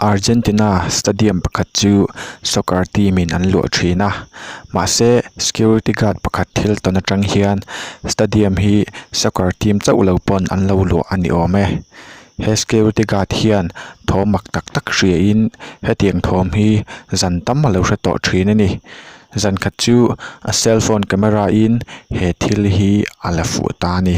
Argentina stadium pakhat chu soccer team in an luah thin a mahse security guard pakhat thil tawn atang hian stadium hi soccer team chauh lo pawn an lo luah a ni awm e. He security guard hian thawm mak tak tak hria in hetiang thawm hi zan tam a lo hre tawh thin a ni zan khat chu a cell phone camera in he thil hi a la fuh ta a ni.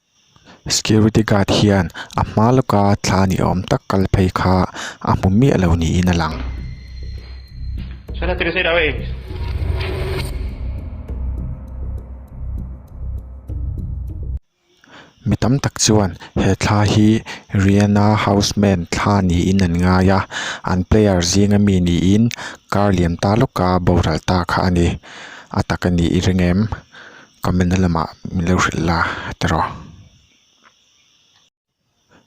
Security guard hian a hma lawka thla ni awm tak kal phei kha a hmu miah lo niin a lang. Mi tam tak chuan he thla hi Riana house man thla niin an ngai a, an player zinga mi niin kar liam ta lawka boral ta kha a ni. A tak a ni reng em? Comment na lamah min lo hrilh la te rawh.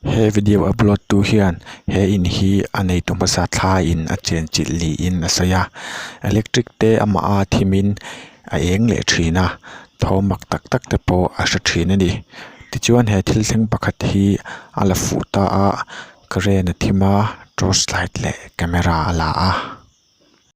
He video upload tu hian he in hi a neitu hmasa thla in a chen chilh niin a sawi a. Electric te amah a thim in a eng leh thin a, tho mak tak tak te pawh a hre thin a ni. Tichuan he thil thleng pakhat hi a la fuh ta a, current a thim a, torch light leh camera a la a.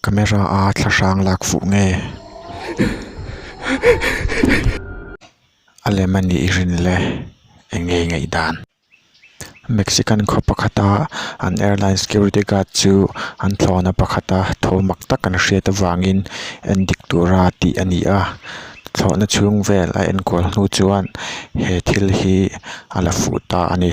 Camera a thla hrang lak fuh nge a lem a nih i rin le eng nge i ngaih dan Mexican khaw pakhat a an airline security guard chu an thlawhna pakhat a tho mak tak an hriat avangin en dik tur a tih a ni a thlawhna chhung vel a enkual hnu chuan he thil hi a la fuh ta a ni.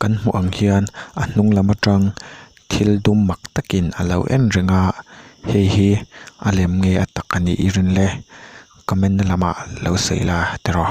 Kan hmuh ang hian a hnung lam atang thil dum mak takin a lo en reng a, hei hi a lem nge a tak a nih i rin le? Comment-na lamah lo sawi la tiraw?